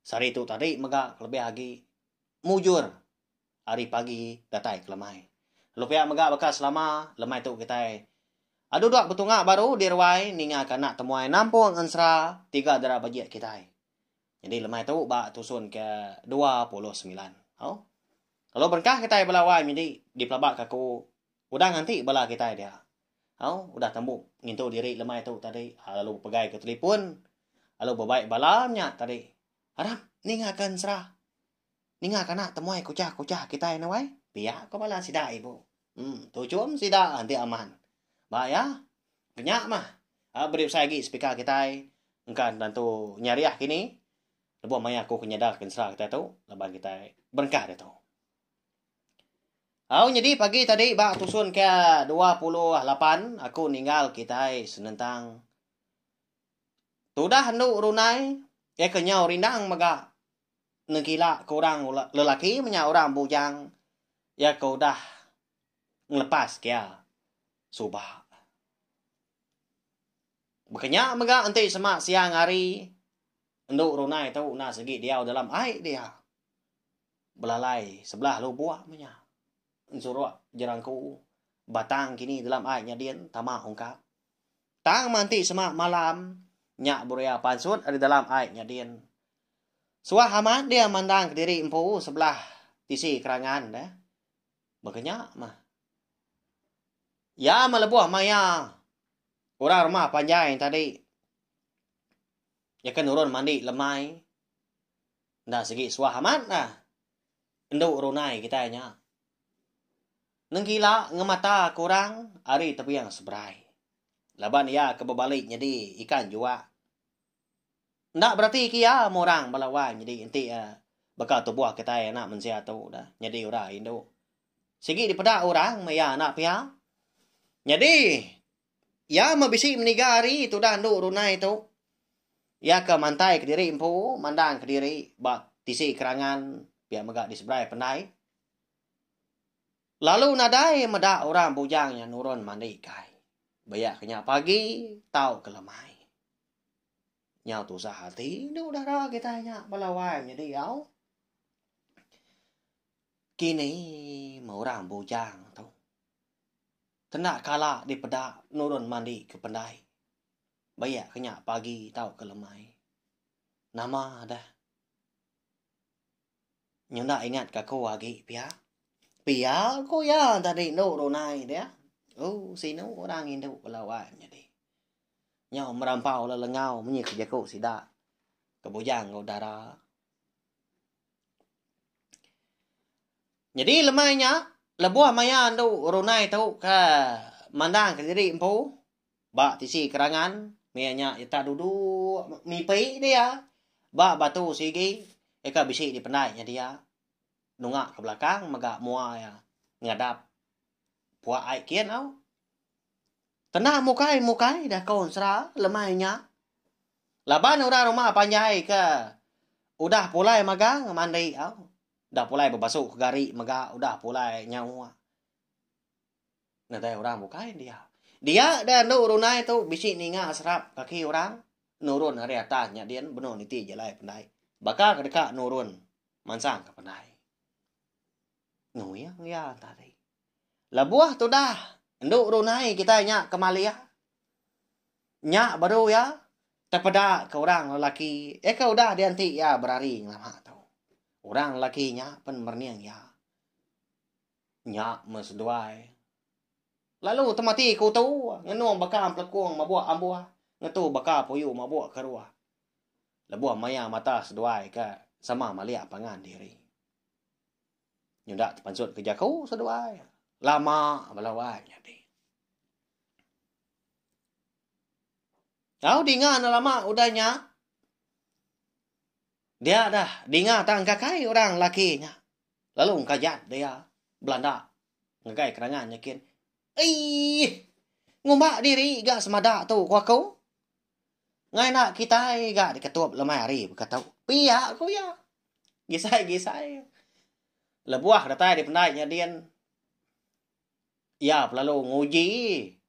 Sehari tu tadi mega kelebih agi mujur ari pagi datai ke lemai. Lalu pia mega baka selama lemai tu kitai adu dua betunga baru di ruai ninga ke anak temuai nampung ensera tiga dara bejik kitai. Nyadi lemai tu ba tusun ke dua puluh semilan. Au. Lalu berengkah kitai bala wai nyadi dipelaba ka aku Udah nganti bala kitai dia. Au, udah tembu ngintu diri lemai tu tadi, ah, lalu bepegai ke telefon, lalu bebai bala nya tadi. Aram, ninga ke ensera. Ninga kana temuai kuchah-kuchah kitai enda wai? Pia ko bala sida ibu. Hmm, tuchum sida enti aman. Ba iya, kenya mah. Ah, beri besai agi speaker kitai. Engka tentu nyariah kini. Lebuh maya aku ke nyadar ke ensera kitai tu, laban kitai berengkah ditu. Au nyadi pagi tadi ba tusun ke dua puluh lapan aku ninggal kitai senentang. Tudah endu runai iya ke nyau rindang mega nengkila ke orang lelaki menya orang bujang iya ke udah ngelepas ke iya suba. Baka nya mega enti sema siang hari endu runai tu enda sigi diau dalam ai dia. belalai sebelah lubuk meh nya. Ensuruk jerangku batang kini dalam ai nyadin tama ungkap. Tang manti semak malam nya buria pansut ari dalam ai nyadin. Suah amat dia mandang kediri empu sebelah tisi kerangan dia. Baka nya mah. Ya melebuh maya orang rumah panjai tadi. Nyaka nurun mandi lemai. Enda sigi suah amat lah. Endu runai kitai nya. Nengkila ngemata ke orang ari tebiang seberai. Laban iya ke bebali nyedi ikan jua. Enda bereti ke iya meh orang bala wai nyedi enti baka tubuh kitai anak mensia tu dah nyedi urai indu. Sigi dipeda orang meh iya anak pia. Nyadi. Iya meh bisi meniga hari tudah endu runai tu. Iya ke mantai kediri empu mandang kediri ba tisi kerangan pia mega di seberai pendai. Lalu nadai meda orang bujang nya nurun mandi kai. Ba iya ke nya pagi tau ke lemai. Nyau tusah ati endu dara kitai nya bala wai nyadi au. Kini meh orang bujang tu. Kena kala dipeda nurun mandi ke pendai. Bayak ke nya pagi tauka lemai. Nama deh. Nyenda ingat ke aku agi pia. Pia ku iya enda rindu runai dia. Oh sinu orang ngindu bala wai menyadi. Nyau merampau lelengau menyit ke jaku sida ke bujang enggau dara. Nyadi lemai nya, lebuh maya andu runai tu ke mandangka diri empu ba tisi kerangan, meh nya ita duduk ngipi dia ba batu sigi eka bisi dipendai nya dia nunga ke belakang mega mua iya ngadap. Puak ai kin au. Kena mukai mukai dah kaun sera lemai nya. Laban orang rumah panjai ke udah pulai magang mandi au. Udah pulai bebasu ke gari mega udah pulai nyawa. Nadai orang bukai dia. Dia da anu runai tu bisi ninga serap kaki orang nurun ari atas nya din benung niti jalai pandai. Baka ke deka nurun mansang ke pandai. Nuyang iya tadi. Lebuh tudah endu runai kitai nya ke malia. Nya baru iya tepeda ke orang lelaki iya ke udah dianti iya berari ngelama tu. Orang lelaki nya pen merening iya. Nya meh seduai. Lalu temati kutu ngenung baka pelekung mabuk ambuh ngetu baka puyu mabuk keruh. Lebuh maya mata seduai ke sama malia pangan diri. Nyudak tepansut ke jaku seduai. Lama bala wai nyadi. Au dinga ne lama udah nya. Dia dah dinga tang kakai orang laki nya. Lalu engkajat dia belanda ngagai kerangan nyikin. Eii! Ngumba diri ga semada tu ku aku. Ngai enda kitai ga diketup lemai hari baka tu. Pia ku iya. Gisai-gisai. Lebuh datai dipendai nya din iya belalu nguji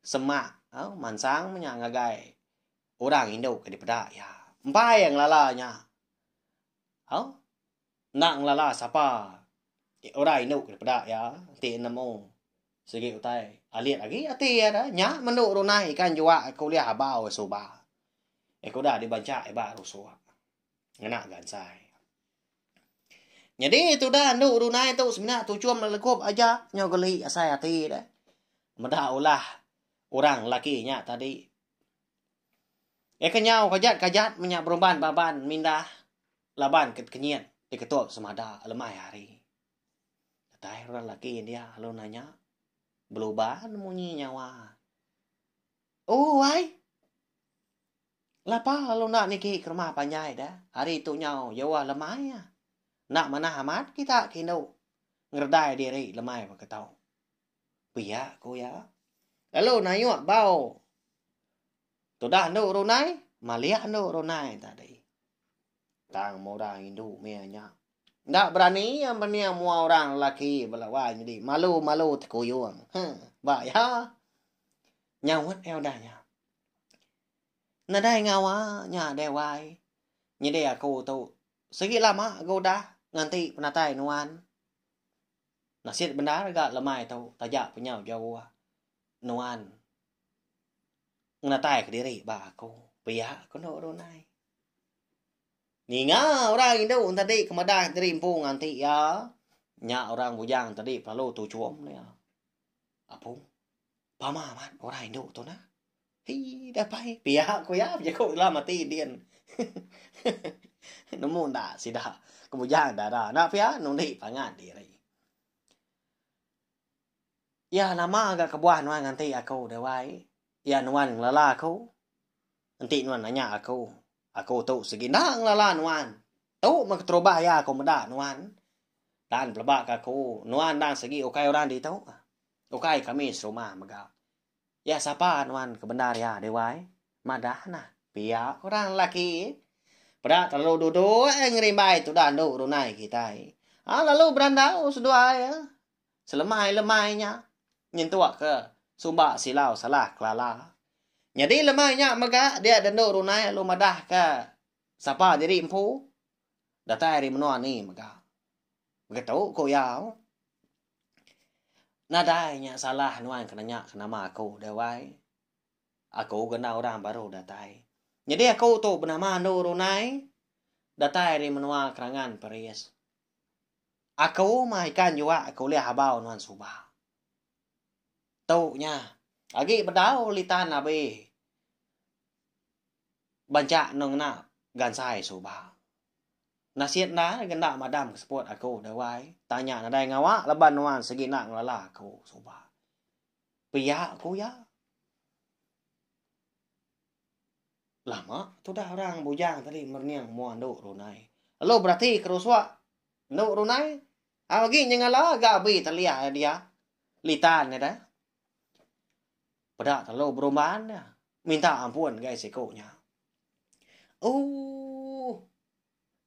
semak au mansang menya ngagai orang indu ke dipeda iya. Empai ngelala nya. Au. Enda ngelala sapa ti udah indu ke dipeda iya enti nemu sigi utai alit agi ati iya da nya mendu runai ikan jua ke ulih abau suba iya ke udah dibanca iba rusuk ngena gansai. Nyadi tudah endu runai tu semina tuchum lelekup aja nyau geli asai ati deh meda ulah orang lelaki nya tadi. Iya ke nyau kajat-kajat menya beruban ba ban mindah. Laban ke kenyit diketul semada lemai hari. Datai orang lelaki india lalu nanya, Beluban munyi nyawa? Oh, wai! Lapa lalu enda niki ke rumah panjai deh? Hari tu nyau jauh lemai. Enda manah amat kita ke indu ngeredai diri lemai baka tu. Pia ku iya. Lalu nayuk bau. Tudah anu runai, malih anu runai tadi. Tang mura indu meh nya. Enda berani iya mening mua orang lelaki bala wai nyadi malu-malu tekuyung. Ha, ba iya. Nyaut iya udah nya. Nadai ngawa nya deh wai. Nyadi aku tu sigi lama ga udah nganti penatai nuan. Nasit bendar ga lemai tu taja penyau jauh nuan ngenatai ke diri ba aku pia ku endo runai. Ninga orang indu enti tadi ke madah diri empu nganti iya nya orang bujang tadi pelalu tuchum dia. Apu. Pama amat orang indu tu nah. Hii dah pai pia ku iya bejaku lam ati din. Nemu enda sida ke bujang dara enda pia nundi pangan diri. Iya nama ga kebuah nuan nganti aku deh wai. Iya nuan ngelala aku. Enti nuan nanya aku, aku tu sigi enda ngelala nuan. Tu meh keterubah iya aku meda nuan. Dan peleba ke aku nuan endang sigi ukai orang ditu. Ukai kami serumah mega. Ya sapa nuan ke bendar ya Dewai? Madah nah pia orang lelaki. Peda terlalu duduk eh ngerimbai tudah endu runai kitai. Ha lalu berandau seduai eh. Selemai-lemai nya nyentuk ke sumba silau salah kelala. Nyadi lemai nya mega dia dendu runai lalu madah ke sapa diri empu. Datai ari menua ni mega. Begitu ku iya. Nadai nya salah nuan ke nanya ke nama aku deh wai. Aku ke enda orang baru datai. Nyadi aku tu benama andu runai datai ari menua kerangan paris. Aku mah ikan jua ke ulih abau nuan suba. Tu nya agi bedau litan abi banca enda ngena gansai suba. Nasit endar ngena madam ke seput aku deh wai. Tanya nadai ngawa laban nuan segina ngelala aku suba. Pia ku iya. Lama tudah orang bujang tadi merening mua endu runai. Lalu berati ke rusuk endu runai. Au agi nyengala ga abi teliah iya dia. Litan iya deh. Peda telalu berumban iya. Minta ampun gai siku nya. Ooh.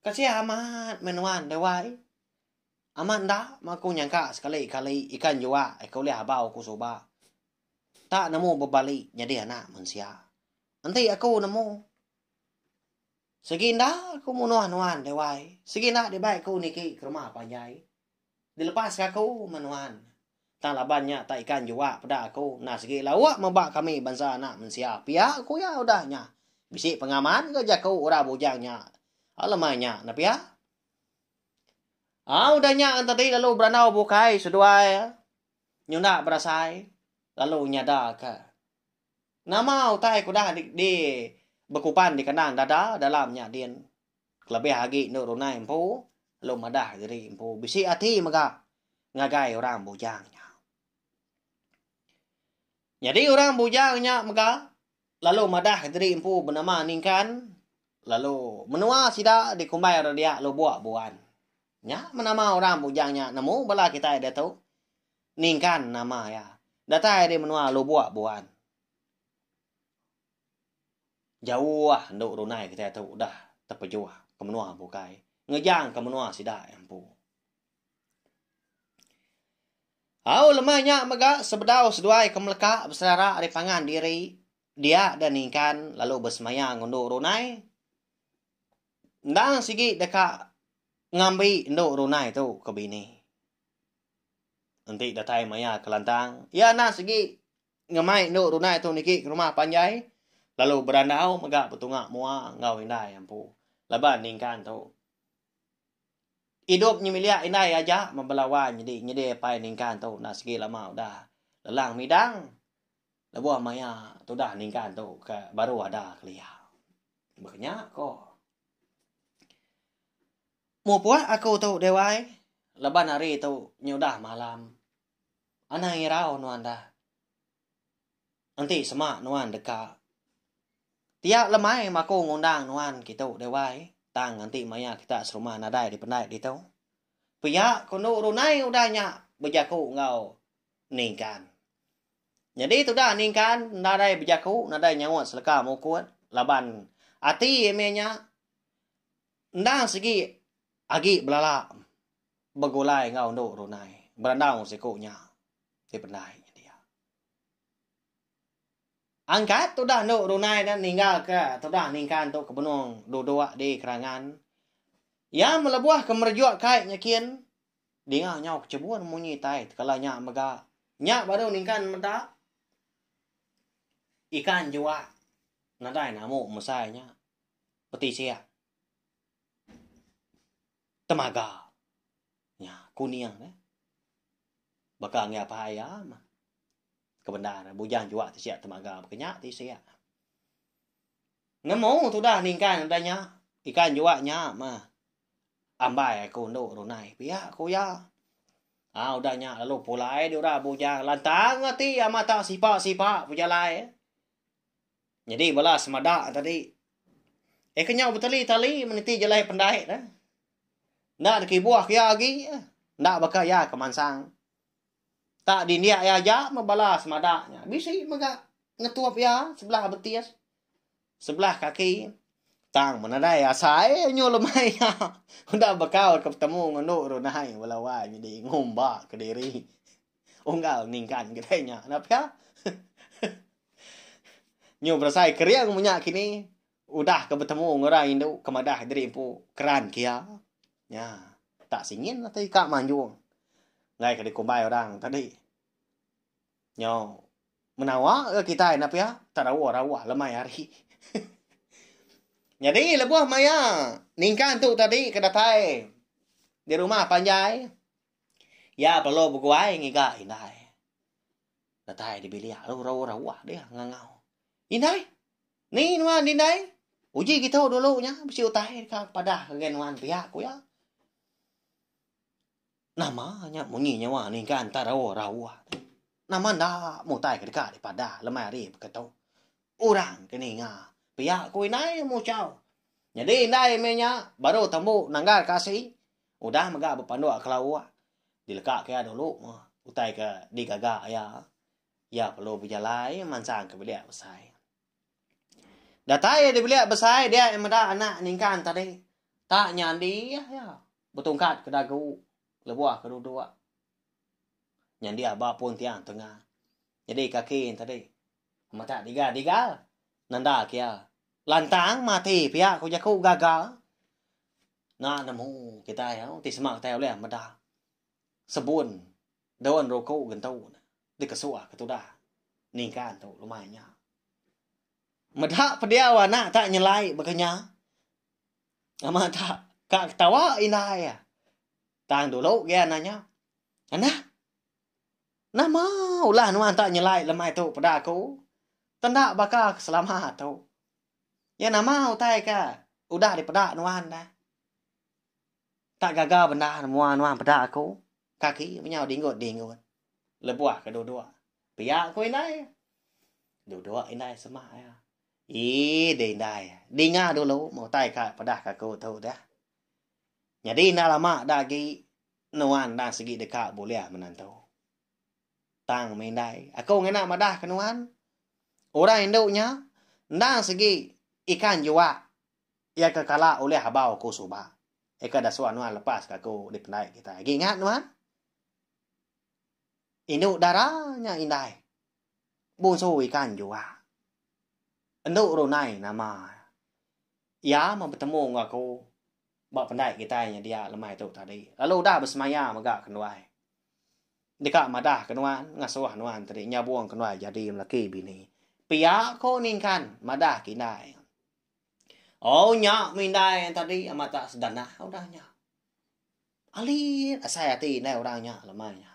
Kasian amat meh nuan deh wai. Amat enda meh aku nyangka sekali-kali ikan jua ika ulih abau aku suba. Enta nemu bebali nyadi anak mensia. Enti aku nemu segi enda aku munah nuan deh wai. Segi enda dibai aku niki ke rumah panjai. Dilepaska aku meh nuan. Tang laban nya tak ikan jua peda aku enda sigi lauk meba kami bansa anak mensia pia ku iya udah nya. Bisi pengaman ke jaku orang bujang nya alemai nya ne pia. Au udah nya Entadi lalu berandau bukai seduai nyunda berasai lalu nyadaka nama utai ke udah di bekupan di kandang dada dalam nya din. Kelebih agi endo runai empu lalu madah diri empu bisi ati mega ngagai orang bujang nya. Nyadi orang bujang nya mega lalu madah diri empu benama Ningkan lalu menua sida dikumbai orang dia Lubok Buan. Nya nama orang bujang nya nemu bala kitai diatu Ningkan nama iya. Datai ari menua Lubok Buan. Jauh endu runai kitai tu udah tepejuh ke menua bukai ngejang ke menua sida iya empu. Au lemai nya mega sebedau seduai ke meleka beselera ari pangan diri dia da ningkan lalu besemaya ngundu runai endang sigi deka ngambi endu runai tu ke bini. Enti datai maya kelantang iya endang sigi ngemai endu runai tu niki ke rumah panjai lalu berandau mega betunga mua enggau indai empu laban ningkan tu idup nyemiliak indai aja meh bela wan nyadi nyadi apai ningkan tu enda sigi lama udah lelang midang lebuh maya tudah ningkan tu ke baru ada kelia beh nya ko mupuk aku tu dewai laban hari tu nyudah malam. Anang irau nuan dah. Enti sema nuan deka. Pia lemai maku ngundang nuan kitu deh wai, tang nganti maya kita serumah nadai dipendai ditu. Pia kendu runai udah nya bejaku enggau Ningkan. Nyadi tudah Ningkan nadai bejaku nadai nyaut seleka mukut laban ati meh nya endang sigi agi belala. begulai enggau endu runai berandau siku nya ti pendai nyadi iya. Angkat tudah endu runai nya ninggalka tudah ningkan tu ke benung duduk di kerangan. Iya melebuhka merejuk kai nyekin dinga nyau kechebun munyi tai tekala nya mega. Nya baru ningkan meda ikan jua nadai namu mesai nya petisik. temaga nya kuning eh baka anggih apai iya mah kebendar bujang juak ti sia temaga baka nya ti sia nemu tudah ningkan udah nya ikan juak nya mah ambai aku endo runai pia ku iya ah udah nya lalu pulai dura bujang lantang ati amat sipa sipa bejalai. Nyadi bala semada tadi. Eh kenyau betali-tali meniti jelai pendai dah. Enda dikibuh ke iya agi. Enda baka iya ke mansang. Tak dindik iya aja meh bala semada nya. Bisi mega ngetup iya sebelah betis. Sebelah kaki. Tang menadai asai nyu lemai iya. Enda baka ke betemu ngendu runai bala wai nyadi ngumba kediri. Unggal ningkan kedai nya enda pia. Nyu berasai kering menya kini udah ke betemu enggau orang indu ke madah diri empu keran ke iya. Nya, tak singin ati ika manjung. Enggai ke dikumbai orang tadi. Nyu menawa ke kitai enda pia tak rawa-rawa lemai hari. Nyadi lebuh maya ningkan tu tadi ke datai di rumah panjai. Iya perlu beguai ngiga indai. Datai di bilik lu rau rawa dia ngangau. Indai, ni nuan indai? Uji kita dulu nya bisi utai ka padah ngagai nuan pia ku iya. Nama nya munyi nyawa ningkan ta rau rawa. Nama enda mutai ke deka dipadah lemai hari baka tu. Orang ke ninga pia ku indai muchau. Nyadi indai meh nya baru tembu nanggar ka asi. Udah mega bepanduk kelauh dileka ke iya dulu utai ke digaga iya, iya perlu bejalai mansang ke bilik besai. Datai iya di bilik besai dia iya meda anak ningkan tadi tak nyandih iya betungkat ke dagu lebuh ke duduk nyandih ba pun tiang tengah nyadi kaki iya tadi matak diga diga nanda ke iya lantang mati pia ku jaku gaga. Na nemu kitai au ti sema kitai ulih meda sebun daun ruku gentu ne dikesuh ke tudah ningkan tu lumai nya. Meda pediau anak ta nyelai baka nya. Nama ta ka ketawa indai iya. Tang dulu gian nya nanya. Anak, nama ulah nuan ta nyelai lemai tu peda aku? Tenda baka ke selama tu. Iya nama utai ke udah dipeda nuan dah. Tak gaga bendar mua nuan peda aku. Kaki menyau dinggut-dinggut. Lebuh ke duduk. Pia ku indai. Duduk indai semak iya. Ih, deh indai. Dinga dulu meh utai ke peda ke aku tu dah. Nyadi enda lama da agi nuan enda sigi deka bulih menantu. Tang meh indai, aku ngena madahka nuan, orang indu nya endang sigi ikan jua iya ke kala ulih abau aku suba. Eka dasuh nuan lepaska aku dipendai kitai. Agi ingat nuan, indu dara nya indai bunsu ikan jua. Endu runai nama iya meh betemu enggau aku ba pendai kitai nya dia lemai tu tadi. Lalu udah besemaya mega kenduai. Deka madah ke nuan ngasuh nuan tadi nyabung ke nuan jadi melaki bini. Pia ko ningkan madah ke indai. Au nya meh indai tadi amat tak sedanah udah nya. Alit asai ati indai orang nya lemai nya.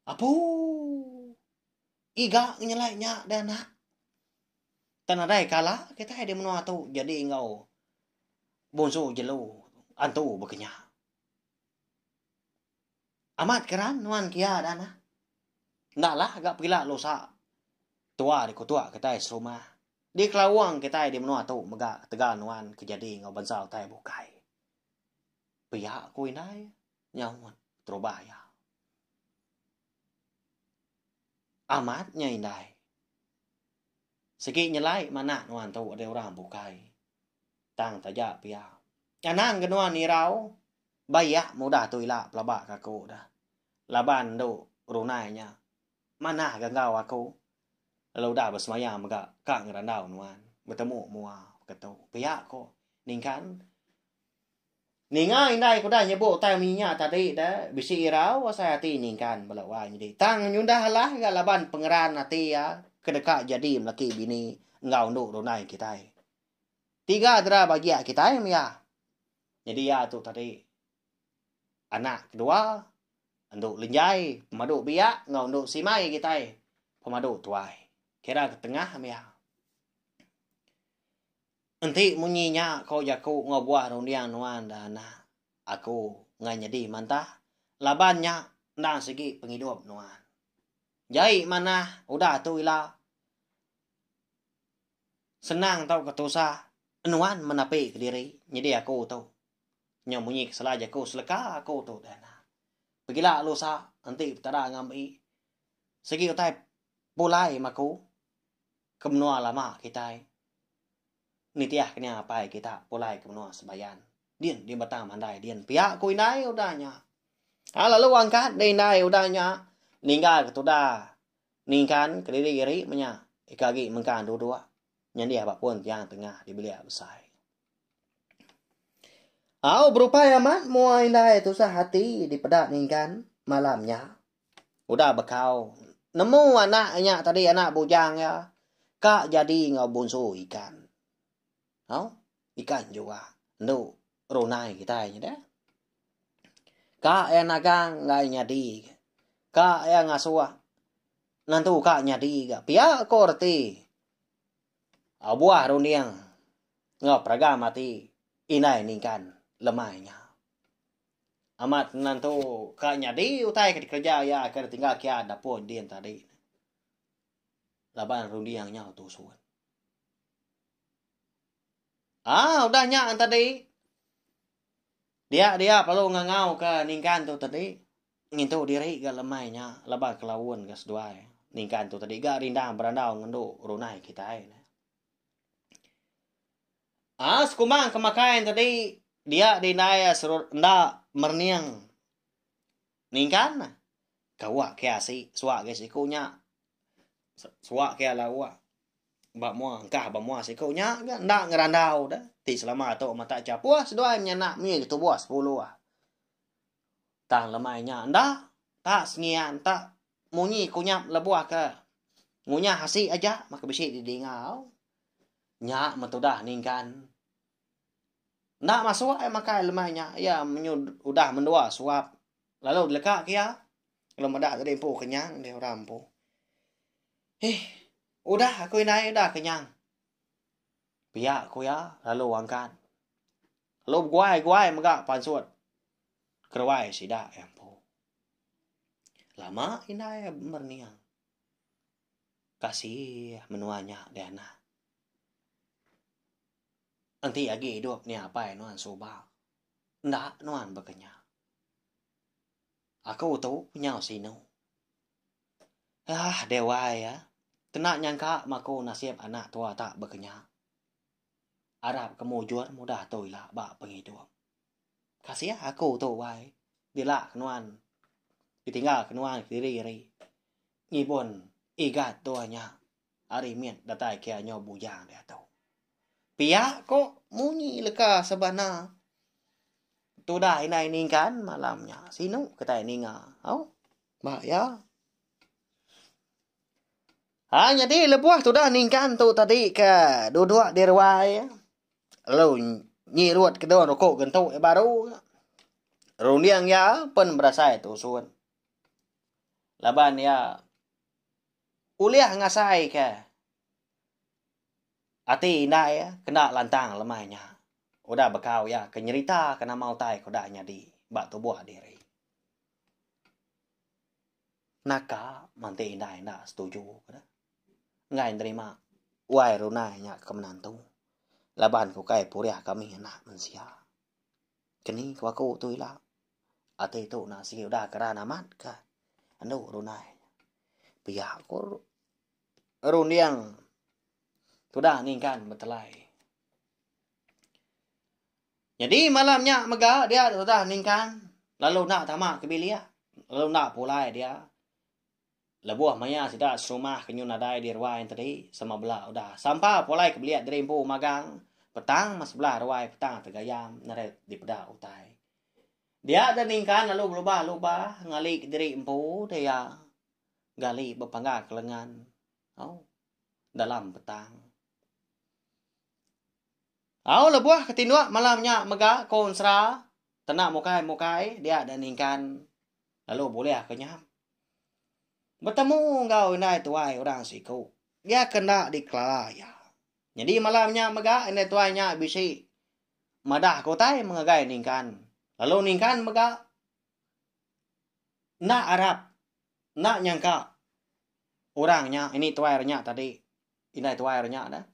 Apu. Iga nyelai nya deh anak. Tak nadai kala kitai di menua tu jadi enggau bungsu jelu antu baka nya. Amat keran nuan kia dah nah. Enda lah ga pila lusa tua dikutuk kitai serumah. Dikelawang kitai di menua tu mega ketegal nuan ke jadi enggau bansa utai bukai. Pia ku indai nyaut terubah iya. Amat nya indai. Sigi nyelai manah nuan tu deh orang bukai. Tang taja pia. Anang ke nuan irau ba iya mudah tu ila pelaba ke aku dah. Laban endu runai nya manah ga enggau aku lalu udah besemaya mega ka ngerandau nuan betemu mua beketu pia ko ningkan. Ninga indai ku dai nyebut utai munyi nya tadi da bisi irau asai ati ningkan bala wai nyadi tang nyudah alah ga laban pengeran ati iya ke deka jadi melaki bini enggau endu runai kitai. Tiga dera bagia kitai meh iya. Nyadi iya tu tadi anak kedua endu lenjai pemadu biak enggau endu simai kitai pemadu tuai. Kira ke tengah meh iya. Enti munyi nya ko jaku enggau buah runding nuan da enda aku enggai nyadi mantah laban nya enda sigi pengidup nuan. Jai manah udah tu ila senang tauka tusah nuan menapika diri nyadi aku tu nyau munyi ke sela jaku seleka aku tu da enda. Pegila lusa enti petada ngambi sigi utai pulai maku ke menua lama kitai. Nitih ke nya apai kita pulai ke menua Sebayan. Din din betang mandai din pia ku indai udah nya. Ha lalu angkat deh indai udah nya ninggal ke tuda ningkan ke diri iri menya ika agi mengkang duduk nyendih ba pun tiang tengah di bilik besai. Au berupai amat mua indai tusah ati dipeda ningkan malam nya. Udah bekau, nemu anak nya tadi anak bujang iya ka jadi enggau bunsu ikan. Hau, ikan jua endo runai kitai nyida. Ka iya nagang enggai nyadi. Ka iya ngasuh nentu ka nyadi ga. Pia ko reti abuah runding enggau peragam ati indai ningkan lemai nya. Amat nentu ka nyadi utai ke dikereja iya ke ditingga kia dapur din tadi. Laban runding nya tusun. Ah, udah nya tadi. Dia-dia perlu ngangau ke ningkan tu tadi. Ngintu diri ga lemai nya laban kelaun ga seduai. Ningkan tu tadi ga rindang berandau ngendu runai kitai. Aa sekumang ke makai ento dei dia di indai serut enda merening ningkan kawak ke asi suak ke siku nya suak ke ala uak ba mua engkah ba mua siku nya ga enda ngerandau de ti selama tu matak chapus seduai menya anak mih ke tubuh sepuluh tang lemai nya enda ta sengian ta munyi kunyap lebuh ke ngunyah asi aja maka bisi di dinga au. Nya metudah ninggan. Enda masuk ai makai lemai nya iya menyu udah mendua suap lalu dilegak ke iya. Lalu meda tadi empu kenyang deh orang empu. Hih, udah aku indai udah kenyang. Pia ku iya lalu angkat. Lalu beguai-guai mega pansut keruai sida iya empu. Lama indai berniang. Kasih menua nya dianak. Enti agi idup ni apai nuan suba. Enda nuan baka nya. Aku tu nyau sinu. Ah dewai ah. Kena nyangka maku nasib anak tua tak baka nya. Arap ke mujur mudah tu ila ba pengidup. Kasih aku tu wai. Dila ke nuan. Ditinggal ke nuan kediri ari. Ngibun Igat tua nya ari mit datai kia nyau bujang diatu. Pia ko munyi leka sebana tudah indai ningkan malam nya sinu kitai ninga au ba iya. Ha nyadi lebuh tudah ningkan tu tadi ke duduk di ruai lalu nyirut kedua ruku gentu iya baru runding iya pen berasai tusun. Laban iya ulih ngasaika ati indai iya kena lantang lemai nya udah bekau iya ke nyeritaka nama utai ke udah nyadi ba tubuh diri. Naka manti indai enda setuju ke deh enggai nerima wai runai nya ke menantu laban ke ukai purih kami anak mensia. Keni ke aku tu ila. Ati tu na sigi udah keran amat ka anu runai. Pia ko runding tudah ningkan betelai. Jadi malam nya mega dia tudah ningkan lalu enda tama ke bilik lalu enda pulai dia. Lebuh maya sida serumah ke nyun nadai di ruai entedi, sama bela udah sampa pulai ke belia diri empu magang petang mas sebelah ruai petang tegayam neret dipeda utai. Dia da ningkan lalu belubah lubah ngali ke diri empu da ia gali bepangga ke lengan au dalam petang. Au lebuh ke tinduk malam nya mega ko ensera tena mukai mukai dia da ningkan lalu bulih ke nyam. Betemu enggau indai tuai orang siku iya ke enda dikelala iya. Nyadi malam nya mega indai tuai nya bisi madah ke utai ngagai Ningkan. Lalu Ningkan mega enda arap enda nyangka orang nya ini tuai inya tadi indai tuai inya nya deh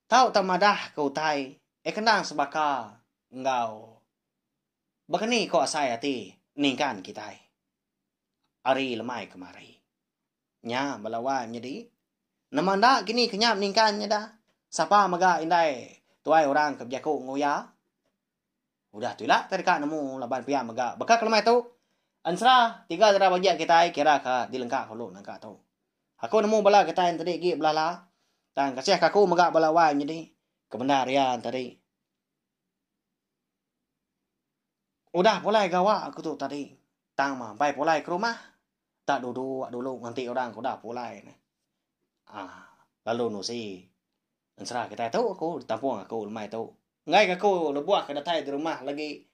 tau tau madah ke utai eh kena sebaka enggau Baka ni ko asai ati ningkan kitai ari lemai kemari. Nya bala wai menyedi. Nama enda kini ke nyap ningkan nyeda? Sapa mega indai tuai orang ke bejaku enggau iya? Udah tu ila ke deka nemu laban pia mega baka ke lemai tu. Ensera tiga dara bajik kitai kira ke dilengka kulu nangka tu. Aku nemu bala kitai entedi agi belala tang kasih ka aku mega bala wai menyedi kebendar iya entedi. Udah pulai gawa aku tu tadi. Tang mah bai pulai ke rumah. Da duduk dulu nganti orang ke udah pulai ne. Aa lalu nusi ensera kitai tu ku ditampung aku lemai tu. Enggai ke aku lebuh ke datai di rumah lagi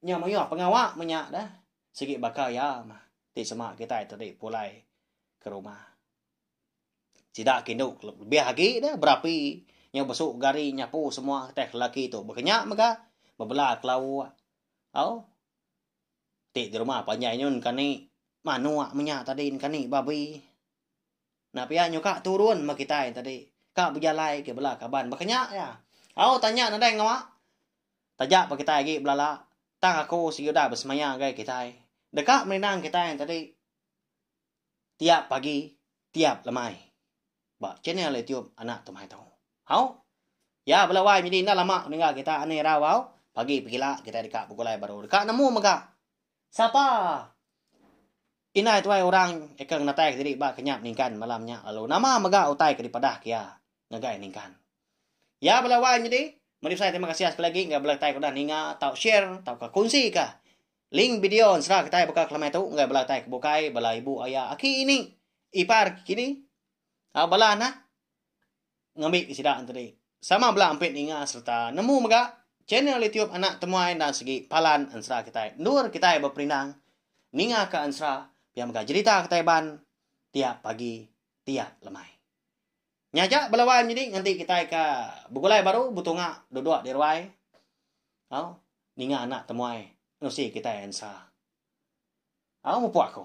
nya mayuh pengawa meh nya dah. Sigi baka iya mah ti sema kitai tadi pulai ke rumah. Sida kindu lebih agi dah berapi nyau besu gari nyapu semua teh lelaki tu bekenya mega bebela kelau au ti di rumah panjai nyun kani manuk menya tadi kani babi nah pia nyuka turun meh kitai tadi ka bejalai agi bela kaban bekenya iya au tanya nadai ngawa taja pa kitai agi belala tang aku sigi udah besemaya ngagai kitai deka merinang kitai tadi. Tiap pagi tiap lemai ba channel YouTube Anak Tumai Tau. Hau. Ya bela wai menyadi enda lama meninggal kita ani rau hau. Pagi pegila kita deka begulai baru deka nemu mega sapa indai tuai orang eka ngenatai ke diri ba ke nya meningkan malam nya lalu nama mega utai ke dipadah ke iya ngagai ningkan. Ya bela wai menyadi meri besai terima kasih sekali lagi enggau bela kitai ke udah ninga tau share tauka kongsi ka Link bideo ensera kitai baka kelemai tu enggai bela kitai ke bukai, bela ibu aya, aki ini, ipar ke kini, au bala anak ngambi ke sida enti di. Sama bela ampit ninga sereta nemu mega channel YouTube Anak Temuai endang sigi palan ensera kitai. Endur kitai beperindang ninga ka ensera pia mega jerita kitai ban tiap pagi, tiap lemai. Nyaja bela wai menyadi nganti kitai ka begulai baru betunga duduk di ruai au ninga anak temuai nusi kitai ensa. Au mupuk aku.